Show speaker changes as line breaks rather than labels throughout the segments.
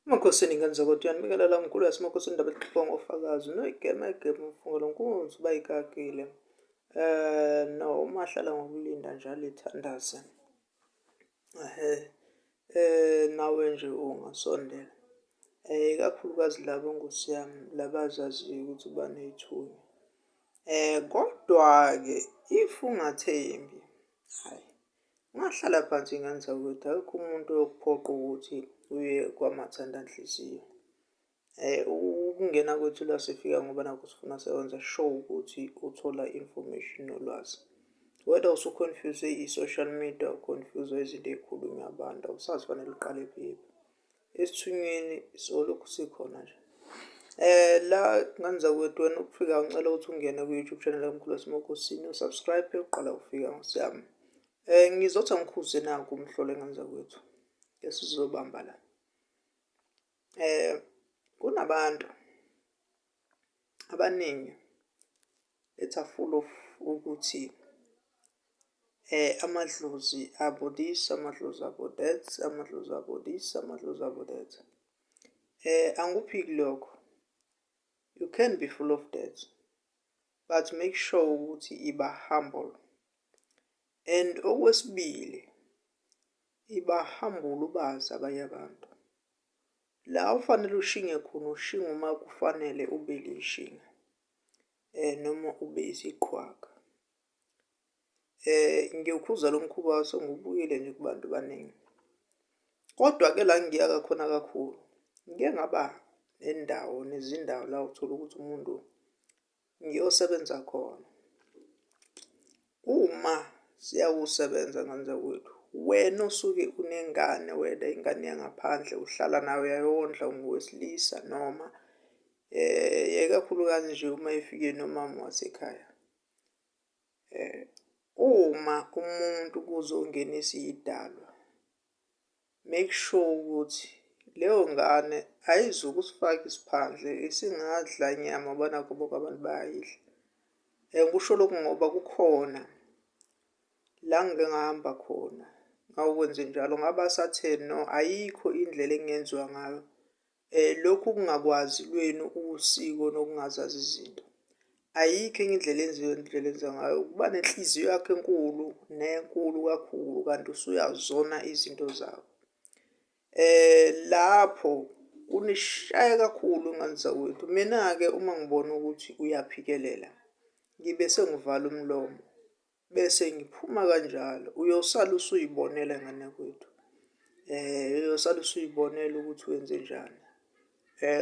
Emakhosini ngenzokotiyani mikelela mkhulu yasemakhosini ndaba exoxwa ngofakazi noyigema egema umfungelo nkunzi uba ikakile eh no uma ahlala ngokulinda njalo ithandaze ehe eh nawe nje ungasondela eh ikakhulukazi labo nkosi yami labazaziyo ukuthi uba nethunya eh kodwa-ke if ungathembi hayi Ngahlala phansi ngenza ukuthi akekho umuntu oyokuphoqa ukuthi uye kwamathandanhliziyo. Um ukungena kwethu la sifika ngoba nakho sifuna sewenza show ukuthi uthola information nolwazi. Whether usu-confuse i-social media, u-confuse izinto ey'khulunywa abantu awusazi fanele uqale kuphi. esithunyweni solokhu sikhona nje eh la ngane zakwethu wena ukufika ngicela ukuthi ungene ku-youtube channel kamkhulu wasemokosini usubscribe yokuqala ukufika ngosiyami eh ngizothi angikhuze naku umhlole ngane zakwethu esizobamba la eh kunabantu abaningi it's a full of ukuthi eh amadlozi abo this amadlozi abo that amadlozi abo this amadlozi abo that eh anguphiki lokho you can be full of that but make sure ukuthi iba humble and okwesibili iba humble ubazi abanye abantu La ofanele ushinge khona ushinga uma kufanele ube lishinga um noma ube isiqhwaga. Um ngiyokhuza lo mkhuba wase ngubuyele nje kubantu baningi. Kodwa-ke la ngiya kakhona kakhulu ngike ngaba nendawo nezindawo la uthola ukuthi umuntu ngiyosebenza khona. Uma siyawusebenza ngandza kwethu wena osuke unengane wena ingane yangaphandle uhlala nayo yayondla ungowesilisa noma eh ikakhulukazi nje uma ifike nomama wasekhaya eh uma umuntu kuzongenisa idalwa Make sure ukuthi leyo ngane ayizukusifaka isiphandle isingadla nyama banakho bonke abantu bayayidla. And kusho lokhu ngoba kukhona la ngike ngahamba khona ngawukwenze njalo ngaba satheni no ayikho indlela engenziwa ngayo eh, lokhu kungakwazi lwenu usiko nokungazazi izinto ayikho enye indlela enziwe indlela enza ngayo ukuba nenhliziyo yakho enkulu nenkulu kakhulu kanti usuyazona izinto zakho eh lapho kunishaya kakhulu ingane zakwethu mina-ke uma ngibona ukuthi uyaphikelela ngibe sengivala umlomo Bese ngiphuma kanjalo, uyosala usuyibonela ngane kwethu uyosala usuyibonela ukuthi wenzenjani.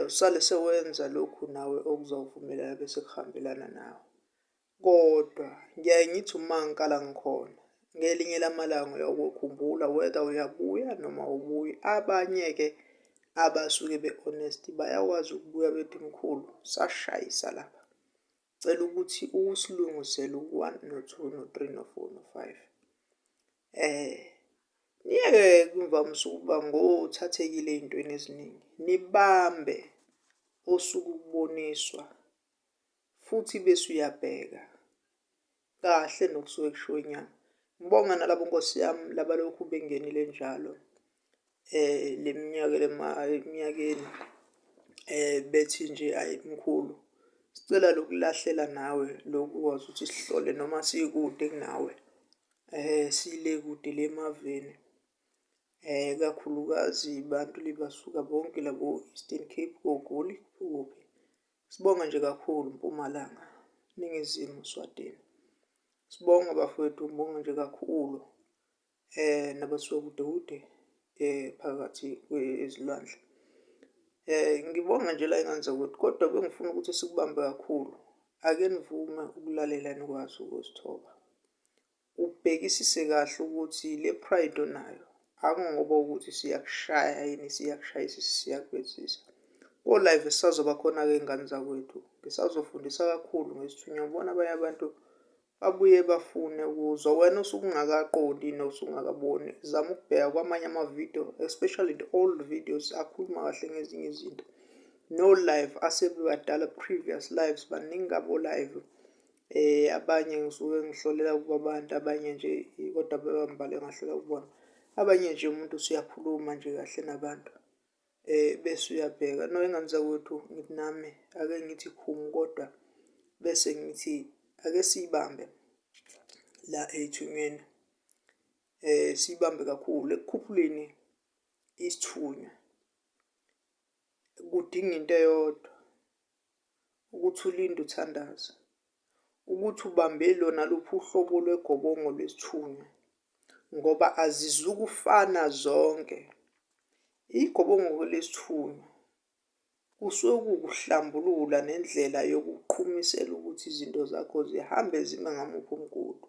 Usale sewenza lokhu nawe okuzowuvumelana bese kuhambelana nawe. Kodwa ngiyaye ngithi uma ngikala ngikhona ngelinye lamalanga uyokukhumbula whether uyabuya noma awubuyi. Abanye-ke abasuke be-honest bayakwazi ukubuya bethi mkhulu sashayisa lapha. Cela ukuthi usilungusele u-one no-two no-three no-four no-five. Eh niyeke kumvamisa ukuba ngothathekile ey'ntweni eziningi. Nibambe osuke ukuboniswa futhi bese uyabheka. kahle nokusuke kushiwo inyanga ngibonga nalabo nkosi yami labalokhu bengenile njalo eh leminyaka eminyakeni eh bethi nje ayi mkhulu sicela lokulahlela nawe lokwazi ukuthi sihlole noma sikude kunawe eh sile kude lemaveni eh kakhulukazi bantu libasuka bonke labo Eastern Cape koGoli kuphi Sibonge nje kakhulu Mpumalanga, Ningizimu, Swatini. Sibonge bafowethu, ngibonge nje kakhulu eh nabasuka kude kude eh phakathi kwezilwandle. Eh ngibonga nje la ingane zakwethu kodwa bengifuna ukuthi sikubambe kakhulu. Ake nivume ukulalela nikwazi ukusithoba. Ubhekisise kahle ukuthi le pride onayo akungoba ukuthi siyakushaya yini siyakushayisa siyakwenzisa. Ko live sisazoba khona ke ngane zakwethu. Ngisazofundisa kakhulu ngesithunywa ubona abanye abantu babuye bafune ukuzwa wena osukungakaqondi nosungakaboni zama ukubheka kwamanye amavidiyo especially the old videos akhuluma kahle ngezinye izinto no live asebebadala previous lives baningi abo live Eh abanye ngisuke ngihlolela kwabantu abanye nje kodwa bebambale ngahlola kubona. Abanye nje umuntu usuyakhuluma nje kahle nabantu. Eh bese uyabheka no engane zakwethu ngithi nami ake ngithi khumu kodwa bese ngithi ake siyibambe la ethunywini. Eh siyibambe kakhulu ekukhuphuleni isithunywa. Kudinga into eyodwa ukuthi ulinde uthandaze ukuthi ubambe lona luphi uhlobo lwegobongo lwesithunywa ngoba azizukufana zonke igobongo lesithunywa kusuke kukuhlambulula nendlela yokuqhumisela ukuthi izinto zakho zihambe zime ngamuphi umgudu